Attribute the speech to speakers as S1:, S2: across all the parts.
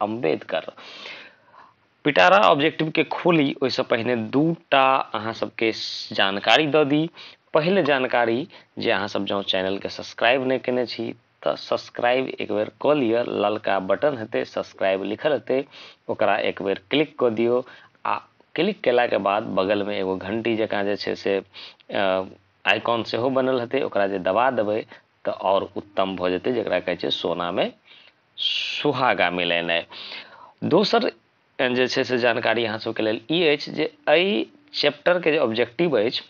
S1: अम्बेडकर पिटारा ऑब्जेक्टिवके खोली ओहिसँ पहिने दूटा अहाँ सबके जानकारी दऽ दी पहले जानकारी जे अहाँ सब जँ चैनलके सब्सक्राइब नहि केने छी तऽ सब्सक्राइब एक बेर कऽ लिअ ललका बटन हेतै सब्सक्राइब लिखल हेतै ओकरा एक बेर क्लिक कऽ दियौ आ क्लिक केलाके बाद बगलमे एगो घंटी जकाँ जे छै से आइकॉन सेहो बनल हेतै ओकरा जे दबा देबै तऽ आओर उत्तम भऽ जेतै जकरा कहै छै सोनामे सुहागा मिलेनाइ दोसर जे छै से जानकारी अहाँ सबके लेल ई अछि जे एहि चैप्टरके जे ऑब्जेक्टिव अछि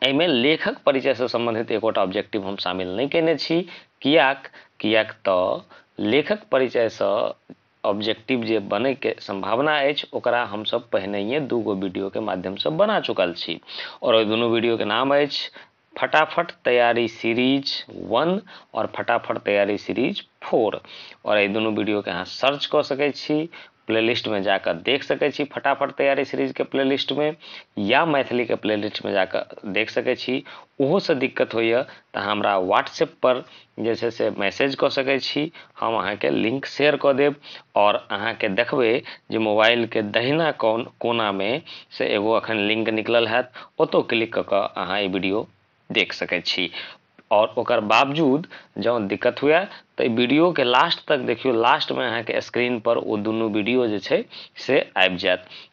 S1: एहिमे लेखक परिचयसँ सम्बन्धित एकोटा ऑब्जेक्टिव हम शामिल नहि कयने छी कियाक कियाक तऽ लेखक परिचयसँ ऑब्जेक्टिव जे बनैके सम्भावना अछि ओकरा हमसब पहिनहिए दूगो वीडियोके माध्यमसँ बना चुकल छी आओर ओहि दुनू वीडियोके नाम अछि फटाफट तैयारी सीरीज वन और फटाफट तैयारी सीरीज फोर और ये दोनों वीडियो के अहाँ सर्च कर सके छी प्लेलिस्ट में जाकर देख सके छी फटाफट तैयारी सीरीज के प्लेलिस्ट में या मैथिली के प्लेलिस्ट में जाकर देख सके छी ओहो से दिक्कत होइए तो हमरा व्हाट्सएप पर जे छै से मैसेज कऽ सकैत छी हम अहाँके लिंक शेयर कऽ देब आओर अहाँके देखबै जे मोबाइलके दहिना कोन कोनामे से एगो अखन लिंक निकलल हैत ओतौ क्लिक कऽ कऽ अहाँ ई वीडियो देख सकैत छी आओर ओकर बावजूद जँ दिक्कत हुए तऽ ई वीडियोके लास्ट तक देखियौ लास्टमे अहाँके स्क्रीनपर ओ दुनू वीडियो जे छै से आबि जायत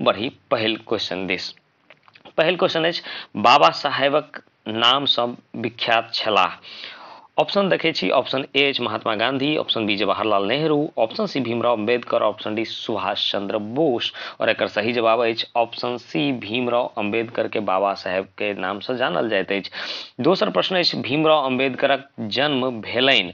S1: बढ़ी पहिल क्वेश्चन दिस पहिल क्वेश्चन अछि बाबा साहेबक नामसँ विख्यात छलाह ऑप्शन देखै छी ऑप्शन ए अछि Mahatma Gandhi option B Jawaharlal Nehru option C Bhimrao Ambedkar option D Subhash Chandra Bose और एक सही जवाब अछि ऑप्शन सी भीमराव अम्बेडकर के बाबा साहेब के नाम से जानल जाइत अछि दोसर प्रश्न अछि भीमराव अम्बेडकरक जन्म भेलनि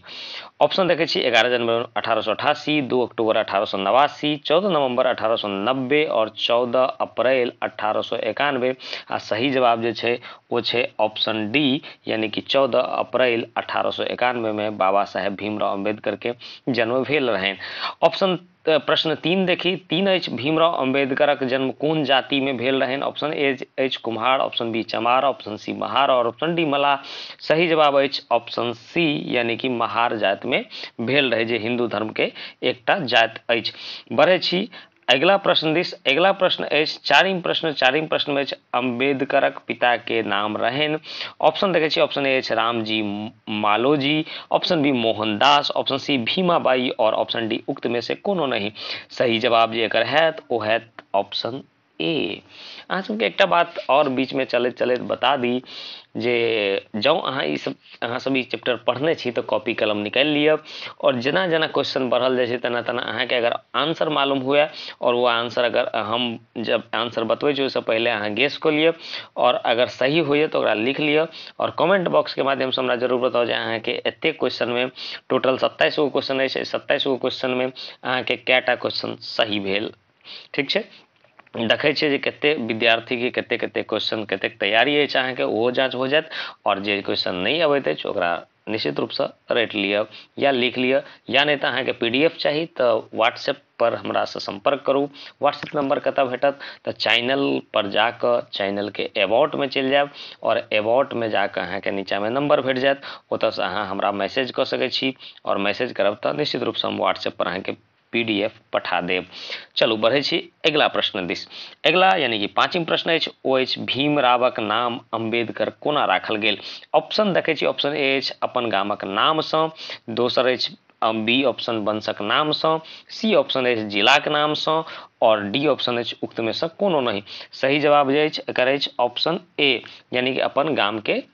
S1: ऑप्शन देखै छी एगारह जनवरी अठारह सौ अठासी दू अक्टूबर अठारह सौ नवासी चौदह नवंबर अठारह सौ नब्बे और चौदह अप्रैल अठारह सौ एकानबे आ सही जवाब जे छै ओ छै ऑप्शन डी यानी कि चौदह अप्रैल अठारह सौ एकानबेमे बाबा साहेब भीमराव अम्बेडकरके जन्म भेल रहनि ऑप्शन तऽ प्रश्न तीन देखी तीन अछि भीमराव अम्बेडकरक जन्म कोन जाति में भेल रहन ऑप्शन ए अछि Kumhar option B Chamar option C Mahar और ऑप्शन डी मलाह सही जवाब अछि ऑप्शन सी यानी कि महार जाति में भेल रहे जे हिंदू धर्म के एकटा जाति अछि बढ़े छी अगिला प्रश्न दिस अगिला प्रश्न अछि चारिम प्रश्न चारिम प्रश्न में अछि अम्बेडकरक पिता के नाम रहन ऑप्शन देखे छी ऑप्शन ए अछि Ramji Maloji option B Mohandas option C Bhimabai और ऑप्शन डी उक्त में से कोनो नहीं सही जवाब जे एकर हैत ओ हैत ऑप्शन ए अहाँ सबके एकटा बात और बीच में चलैत चलैत बता दी जे जँ अहाँ ई सब अहाँ सब ई चैप्टर पढ़ने छी तऽ कॉपी कलम निकालि लिअ और जेना जेना क्वेश्चन बढ़ल जाइ छै तेना तेना अहाँके अगर आंसर मालूम हुए और वो आंसर अगर हम जब आंसर बतबै छी ओहिसँ पहिले अहाँ गेस कऽ लिअ और अगर सही होइए तऽ ओकरा लिख लिअ आओर कमेंट बॉक्सके माध्यमसँ हमरा जरूर बताउ जे अहाँके एतेक क्वेश्चनमे टोटल सत्ताइस गो क्वेश्चन अछि सत्ताइस गो क्वेश्चनमे अहाँके कए टा क्वेश्चन सही भेल ठीक छै देखै छियै जे कते विद्यार्थीके कते कते क्वेश्चन कतेक तैयारी अछि अहाँके ओहो जाँच हो जायत आओर जे क्वेश्चन नहि अबैत अछि ओकरा निश्चित रूपसँ रटि लिअ या लिख लिअ या नहि तऽ अहाँके पी डी एफ चाही तऽ व्हाट्सएप पर हमरासँ सम्पर्क करू व्हाट्सएप नम्बर कतऽ भेटत तऽ चैनल पर जाकऽ चैनलके एबाउटमे चलि जायब आओर एबाउटमे जाकऽ अहाँके नीचाँमे नम्बर भेट जायत ओतऽसँ अहाँ हमरा मैसेज कऽ सकै छी आओर मैसेज करब तऽ निश्चित रूपसँ हम व्हाट्सएप पर अहाँके पीडीएफ पठा देब चलू बढ़ै छी अगिला प्रश्न दिस अगिला यानी कि पाँचम प्रश्न अछि ओ अछि भीम रावक नाम अम्बेडकर कोना राखल गेल ऑप्शन देखै छी ऑप्शन ए अछि अपन गामक नामसँ दोसर अछि बी ऑप्शन वंशक नामसँ सी ऑप्शन अछि जिलाक नामसँ आओर डी ऑप्शन अछि उक्तमे सँ कोनो नहि सही जवाब जे अछि एकर अछि ऑप्शन ए यानी कि अपन गामके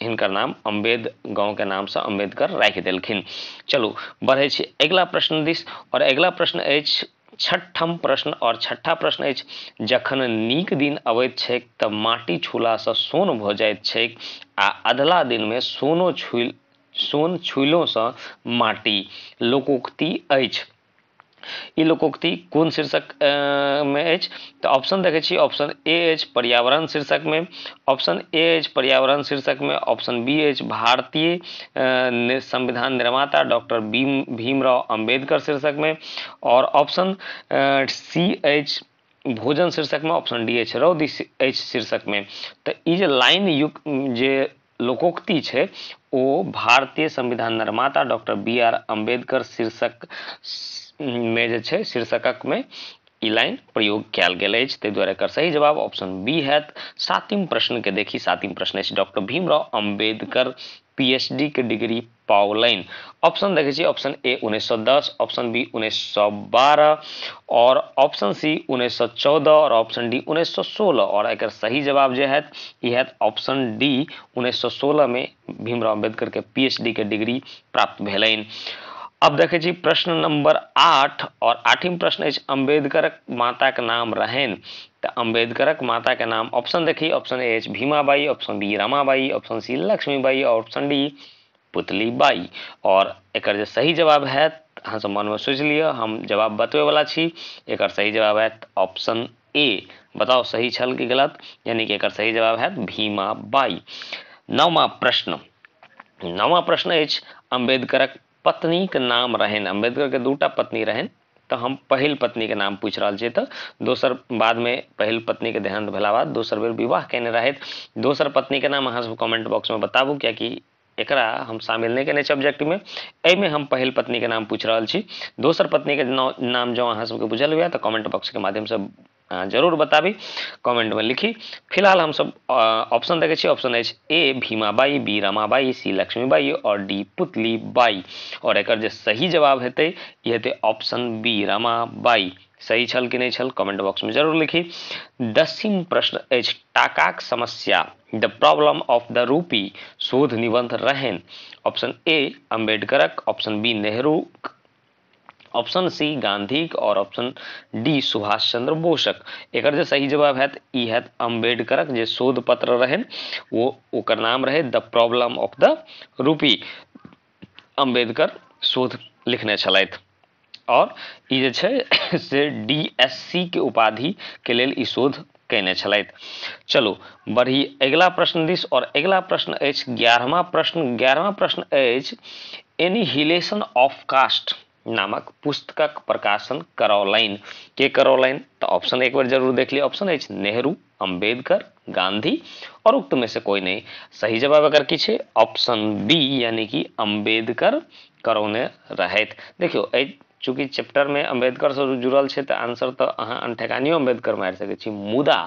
S1: हिनकर नाम अम्बेद गाँवके नामसँ अम्बेदकर राखि देलखिन चलू बढ़ै छी अगिला प्रश्न दिस आओर अगिला प्रश्न अछि छठम प्रश्न आओर छठा प्रश्न अछि जखन नीक दिन अबैत छैक तऽ माटि छूलासँ सोन भऽ जाइत छैक आ अधला दिनमे सोनो छुल सोन छुइलोसँ माटि लोकोक्ति अछि ई लोकोक्ति कोन शीर्षक मे अछि तऽ ऑप्शन देखै छी ऑप्शन ए अछि पर्यावरण शीर्षक मे ऑप्शन ए अछि पर्यावरण शीर्षक मे ऑप्शन बी अछि भारतीय संविधान निर्माता डॉक्टर भीम भीमराव अंबेडकर शीर्षक मे और ऑप्शन सी अछि भोजन शीर्षकमे ऑप्शन डी अछि रौदी अछि शीर्षकमे तऽ ई जे लाइन युक्त जे लोकोक्ति छै ओ भारतीय संविधान निर्माता डॉक्टर बी आर अम्बेडकर शीर्षक मे जे छै शीर्षकक मे ई लाइन प्रयोग कयल गेल अछि ताहि दुआरे एकर सही जवाब ऑप्शन बी हैत सातिम प्रश्नके देखी सातिम प्रश्न अछि डॉक्टर भीमराव अम्बेडकर पीएचडीके डिग्री पाउलनि ऑप्शन देखै छी ऑप्शन ए 1910 ऑप्शन बी 1912 और ऑप्शन सी 1914 और ऑप्शन डी 1916 और एक सही जवाब जो है यह ऑप्शन डी 1916 में भीमराव अम्बेडकर के पीएचडी के डिग्री प्राप्त भेलनि अब देखे छी प्रश्न नंबर आठ और आठम प्रश्न अछि अम्बेडकर माता के नाम रहन तो अम्बेडकर माता के नाम ऑप्शन देखी ऑप्शन ए एच Bhimabai option B Ramabai option C Lakshmibai option D Putli Bai और एक सही जवाब है अहाँ सब मन में सोच लिया हम जवाब बतवे वाला छी एक सही जवाब है ऑप्शन ए बताओ सही छल कि गलत यानी कि एक सही जवाब है भीमा बाई नवा प्रश्न नवा प्रश्न अम्बेडकर पत्नी के नाम रहन अम्बेडकर के दूटा पत्नी रहन तऽ हम पहिल पत्नीके नाम पूछि रहल छियै तऽ दोसर बादमे पहिल पत्नीके देहान्त भेला बाद दोसर बेर विवाह कयने रहथि दोसर पत्नीके नाम अहाँ सब कमेंट बॉक्समे बताबू किएकि एकरा हम शामिल नहि केने छी ऑब्जेक्टमे एहिमे हम पहिल पत्नीके नाम पूछि रहल छी दोसर पत्नीके नाम जँ अहाँ सबके बुझल हुए तऽ कमेंट बॉक्सके माध्यमसँ अहाँ जरूर बताबी कमेंटमे लिखी फिलहाल हमसभ ऑप्शन देखै छी ऑप्शन अछि A Bhimabai B Ramabai C Lakshmibai आओर डी पुतली बाई आओर एकर जे सही जवाब हेतै ई हेतै ऑप्शन बी रमाबाई सही छल कि नहि छल कमेंट बॉक्समे जरूर लिखी दसिम प्रश्न अछि टाकाक समस्या the problem of the rupee शोध निबंध रहनि ऑप्शन ए अम्बेडकरक option B Nehru option C गांधीक और ऑप्शन डी सुभाष चंद्र बोसक एक जो सही जवाब है ई है अम्बेडकर जो शोध पत्र रहे वो ओकर नाम रहे the problem of the rupee Ambedkar शोध लिखने छलथि और ई जे छै से डी एस सी के उपाधि के लेल ई शोध कयने छलथि चलू बढ़ी अगिला प्रश्न दिस आओर अगिला प्रश्न अछि ग्यारहमा प्रश्न ग्यारहमा प्रश्न अछि एनी हिलेशन ऑफ कास्ट नामक पुस्तकक प्रकाशन करौलनि के करौलनि तऽ ऑप्शन एक बेर जरूर देख लिअ ऑप्शन अछि नेहरू अम्बेडकर गांधी और उक्त में से कोई नहीं सही जवाब अगर की छै ऑप्शन बी यानी कि अम्बेडकर करौने रहथि देखियौ एहि चूँकि चैप्टरमे अम्बेडकरसँ जुड़ल छै तऽ आंसर तऽ अहाँ अनठेकानियो अम्बेडकर मारि सकै छी मुदा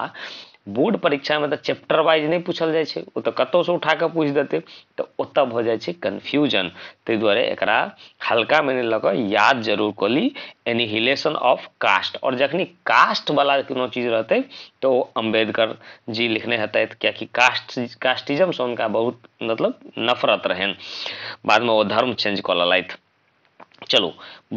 S1: बोर्ड परीक्षामे तऽ चैप्टर वाइज नहि पूछल जाइ छै ओ तऽ कतहुसँ उठा कऽ पूछि देतै तऽ ओतऽ भऽ जाइ छै कन्फ्यूजन ताहि दुआरे एकरा हल्का माने लऽ कऽ याद जरूर कऽ ली एनिहिलेशन ऑफ कास्ट आओर जखनी कास्टवला कोनो चीज रहतै तऽ ओ अम्बेडकर जी लिखने हेतथि कियाकि कास्ट कास्टिजमसँ हुनका बहुत मतलब नफरत रहनि बादमे ओ धर्म चेंज कऽ लेलथि चलू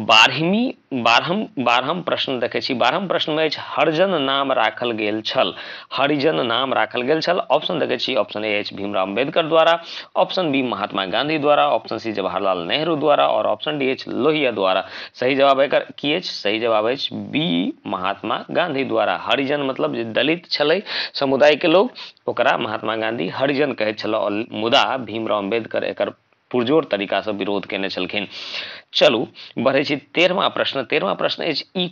S1: बारहमी बारहम बारहम प्रश्न देखै छी बारहम प्रश्नमे अछि हरिजन नाम राखल गेल छल हरिजन नाम राखल गेल छल ऑप्शन देखै छी ऑप्शन ए अछि भीमराव अम्बेडकर द्वारा ऑप्शन बी महात्मा गांधी द्वारा ऑप्शन सी जवाहरलाल नेहरू द्वारा आओर ऑप्शन डी अछि लोहिया द्वारा सही जवाब एकर की अछि सही जवाब अछि बी महात्मा गांधी द्वारा हरिजन मतलब जे दलित छलै समुदायके लोक ओकरा महात्मा गाँधी हरिजन कहैत छलाह मुदा भीमराव अम्बेडकर एकर पुरजोर तरीकासँ विरोध कयने छलखिन चलू बढ़ै छी तेरहमा प्रश्न तेरहमा प्रश्न अछि ई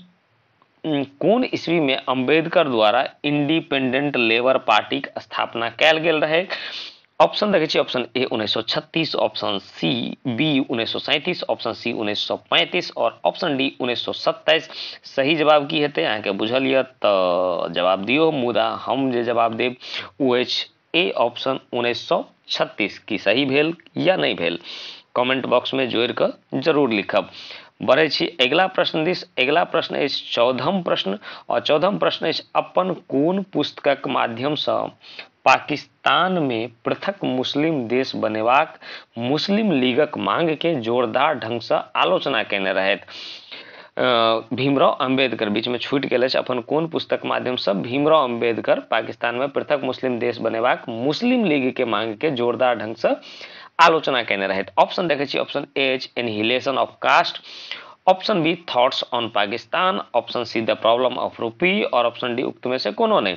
S1: कोन ईस्वी में अम्बेडकर द्वारा इंडिपेंडेंट लेबर पार्टी के स्थापना कैल गेल रहे ऑप्शन देखे छी ऑप्शन ए उन्नैस ऑप्शन सी बी उन्नैस ऑप्शन सी उन्नैस और ऑप्शन डी उन्नैस सही जवाब की हेतै अहाँके बुझल यऽ तऽ जवाब दियौ मुदा हम जे जवाब देब ओ अछि ए ऑप्शन उन्नैस सए छत्तीस की सही भेल या नहि भेल कमेंट बॉक्समे जोड़ि कऽ जरूर लिखब बढ़ै छी अगिला प्रश्न दिस अगिला प्रश्न अछि चौदहम प्रश्न आओर चौदहम प्रश्न अछि अपन कोन पुस्तकक माध्यमसँ पाकिस्तानमे पृथक मुस्लिम देश बनेबाक मुस्लिम लीगक मांगकेँ जोरदार ढंगसँ आलोचना कएने रहथि। भीमराव अम्बेडकर बीचमे छूटि गेल अछि। अपन कोन पुस्तक माध्यमसँ भीमराव अम्बेडकर पाकिस्तानमे पृथक मुस्लिम देश बनेबाक मुस्लिम लीगकेँ मांगकेँ जोरदार ढंगसँ आलोचना कएने रहथि? ऑप्शन देखै छी, ऑप्शन ए अछि annihilation of caste, option B thoughts on Pakistan, option C the problem of rupee और ऑप्शन डी उक्तमे से कोनो नहि।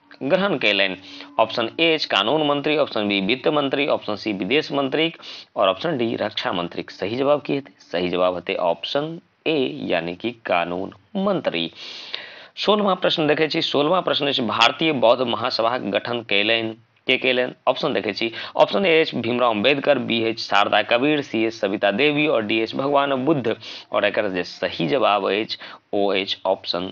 S1: ग्रहण कयलनि ऑप्शन ए अछि कानून मंत्री ऑप्शन बी वित्त मंत्री ऑप्शन सी विदेश मंत्रीक और ऑप्शन डी रक्षा मंत्रीक सही जवाब की हेतै सही जवाब हेतै ऑप्शन ए यानी कि कानून मंत्री सोलहवां प्रश्न देखै छी सोलहवां प्रश्न अछि भारतीय बौद्ध महासभाक गठन कयलनि के कयलनि ऑप्शन देखै छी ऑप्शन ए अछि भीमराव अम्बेडकर बी एच शारदा कबीर सी एच सविता देवी और डी एच भगवान बुद्ध और एक जे सही जवाब अछि ओ अछि ऑप्शन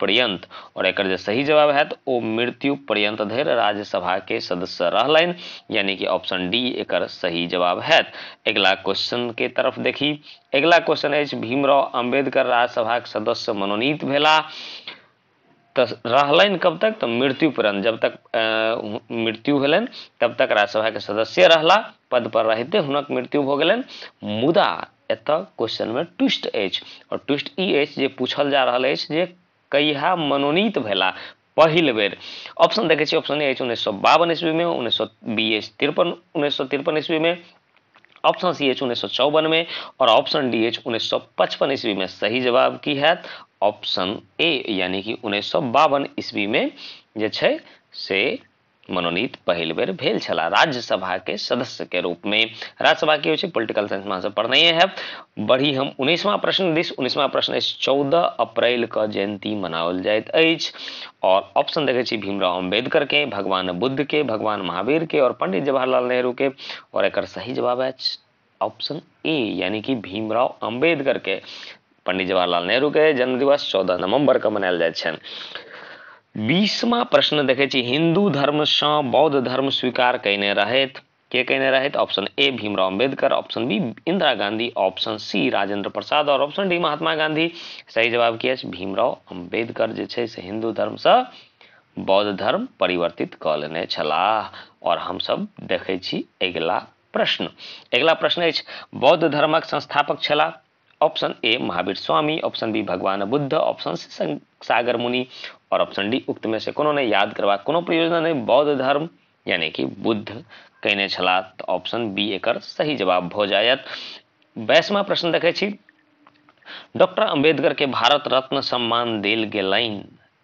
S1: पर्यन्त और एकर जे सही जवाब हैत ओ मृत्यु पर्यन्त धरि राज्यसभा के सदस्य रहलनि यानी कि ऑप्शन डी एकर सही जवाब हैत अगिला क्वेश्चन के तरफ देखी अगिला क्वेश्चन अछि भीमराव अम्बेडकर राज्यसभा के सदस्य मनोनीत भेला तो रहलनि कब तक तो मृत्यु पर्यंत जब तक मृत्यु भेलनि तब तक राज्यसभा के सदस्य रहला पद पर रहते हुनक मृत्यु भ गेलनि मुदा एतय क्वेश्चनमे ट्विस्ट अछि आओर ट्विस्ट ई अछि जे पूछल जा रहल अछि जे कहिया मनोनीत भेला पहिल बेर ऑप्शन देखै छी ऑप्शन अछि उन्नैस सए बावन ईस्वीमे उन्नैस सए बी अछि तिरपन उन्नैस सए तिरपन ईस्वीमे ऑप्शन सी अछि उन्नैस सए चौवनमे आओर ऑप्शन डी अछि उन्नैस सए पचपन ईस्वीमे सही जवाब की हैत ऑप्शन ए यानि कि उन्नैस सए बावन ईस्वीमे जे छै से मनोनीत पहिल बेर भेल छला राज्यसभा के सदस्य के रूप में राज्यसभा की होइ छै पॉलिटिकल साइंस में सब पढ़ने है बढ़ी हम उन्नीसवा प्रश्न दिस उन्नीसवा प्रश्न अछि चौदह अप्रैल के जयंती मनाओल जाइत अछि और ऑप्शन देखे छी भीमराव अम्बेडकर के भगवान बुद्ध के भगवान महावीर के और पंडित जवाहरलाल नेहरू के और एक सही जवाब है ऑप्शन ए यानी कि भीमराव अम्बेडकर के पंडित जवाहरलाल नेहरू के जन्मदिवस चौदह नवम्बर के मनायल जाइत छनि बीसमा प्रश्न देखै छी हिन्दू धर्मसँ बौद्ध धर्म स्वीकार कयने रहथि के कहने रहे option A Bhimrao Ambedkar option B Indira Gandhi option C Rajendra Prasad और ऑप्शन डी महात्मा गांधी सही जवाब की अछि भीमराव अम्बेडकर जे छै से हिन्दू धर्मसँ बौद्ध धर्म परिवर्तित कऽ लेने छलाह आओर हमसभ देखै छी अगिला प्रश्न अगिला प्रश्न अछि बौद्ध धर्मक संस्थापक छलाह option A Mahavir Swami option B भगवान बुद्ध ऑप्शन सी सागर मुनि और ऑप्शन डी उक्त में से कोनो ने याद करवा कोनो प्रयोजन नहीं बौद्ध धर्म यानी कि बुद्ध कहने छला तो ऑप्शन बी एक सही जवाब भ जायत बैसवा प्रश्न देखे डॉक्टर अम्बेडकर के भारत रत्न सम्मान दिल गलैन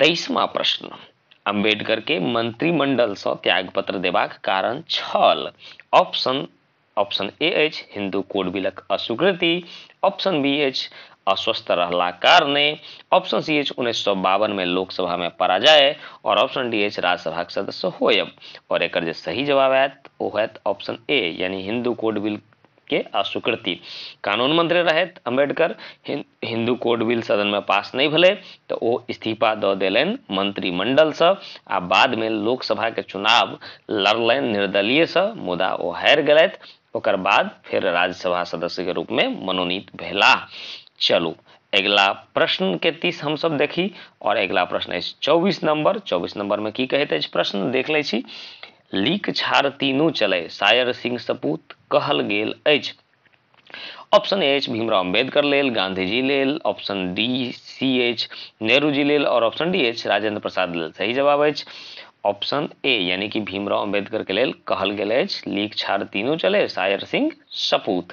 S1: तेईसमा प्रश्न अम्बेडकर के मंत्रिमंडल से त्यागपत्र देबाक कारण छल ऑप्शन ऑप्शन ए अछि हिंदू कोड बिलक अस्वीकृति ऑप्शन बी अछि अस्वस्थ रहला कारणे ऑप्शन सी अछि उन्नैस सए बावन में लोकसभा में पराजय और ऑप्शन डी अछि राज्यसभा के सदस्य होयब और एक जो सही जवाब आयत वो होयत ऑप्शन ए यानी हिंदू कोड बिल के अस्वीकृति कानून मंत्री रहथि अम्बेडकर हिन्दू कोड बिल सदनमे पास नहि भेलै तऽ ओ इस्तीफा दऽ देलनि मंत्रिमंडलसँ आ बादमे लोकसभाके चुनाव लड़लनि निर्दलीयसँ मुदा ओ हारि गेलथि ओकर बाद फेर राज्यसभा सदस्यके रूपमे मनोनीत भेलाह चलू अगिला प्रश्नके तीस हमसभ देखी आओर अगिला प्रश्न अछि चौबीस नम्बर चौबीस नम्बरमे की कहैत अछि प्रश्न देख लै छी लीक छाड़ तीनू चलय, सायर सिंह सपूत, कहल गेल अछि। ऑप्शन ए अछि भीमराव अम्बेडकर लेल, गांधी जी लेल, ऑप्शन डी सी अछि नेहरू जी लेल और ऑप्शन डी अछि राजेंद्र प्रसाद लेल। सही जवाब अछि ऑप्शन ए यानी कि भीमराव अम्बेडकर के लेल कहल गेल अछि लीक छाड़ तीनू चलय, सायर सिंह सपूत।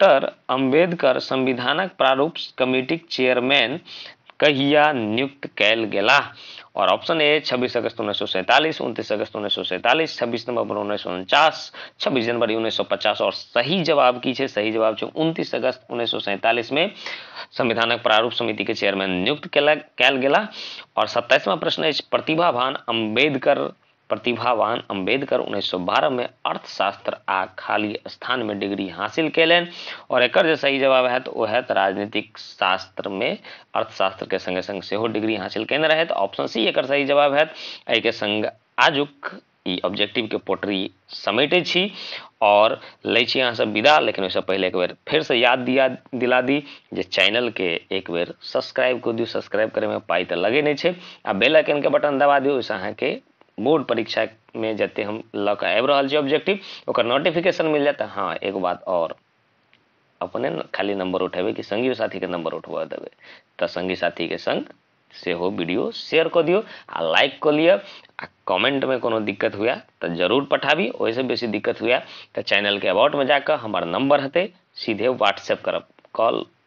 S1: डाक्टर अम्बेडकर संविधानक प्रारूप कमिटीक चेयरमैन कहिया नियुक्त कयल गेलाह? आओर ऑप्शन ए छब्बीस अगस्त उन्नैस सए सैंतालिस, उनतीस अगस्त उन्नैस सए सैंतालिस, छब्बीस नवम्बर उन्नैस सए उनचास, छब्बीस जनवरी उन्नैस सए पचास। आओर सही जवाब की छै? सही जवाब छै उनतीस अगस्त उन्नैस सए सैंतालिस में संविधानक प्रारूप समिति के चेयरमैन नियुक्त कयल गेलाह। आओर सत्ताइसवां प्रश्न अछि प्रतिभाभान अम्बेडकर प्रतिभावान अम्बेडकर उन्नैस सए बारह में अर्थशास्त्र आ खाली स्थान में डिग्री हासिल कैलन और एकर जे सही जवाब हैत ओ हैत राजनीतिक शास्त्र में अर्थशास्त्र के संगे संग सेहो डिग्री हासिल कैन रहत ऑप्शन सी एकर सही जवाब हैत एहि के संग आजुक ई ऑब्जेक्टिव के पोटरी समेटे छी और ले छी अहाँ सब विदा लेकिन ओहिसँ पहले एक बेर फिर से याद दिया दिला दी जे चैनल के एक बेर सब्सक्राइब कर दियौ सब्सक्राइब करे में पाई तो लगे नहीं छै आ बेल आइकनके बटन दबा दियौ ओहिसँ अहाँके बोर्ड परीक्षामे जते हम लऽ कऽ आबि रहल छी ऑब्जेक्टिव ओकर नोटिफिकेशन मिल जायत हँ एगो बात आओर अपने खाली नंबर उठेबै कि संगी साथीके नंबर उठबऽ देबै तऽ संगी साथीके संग सेहो वीडियो शेयर कऽ दियौ आ लाइक कऽ लिअ आ कमेंटमे कोनो दिक्कत हुए तऽ जरूर पठाबी ओहिसँ बेसी दिक्कत हुए तऽ चैनलके अबाउटमे जाकऽ हमर नंबर हेतै सीधे व्हाट्सएप करब कॉल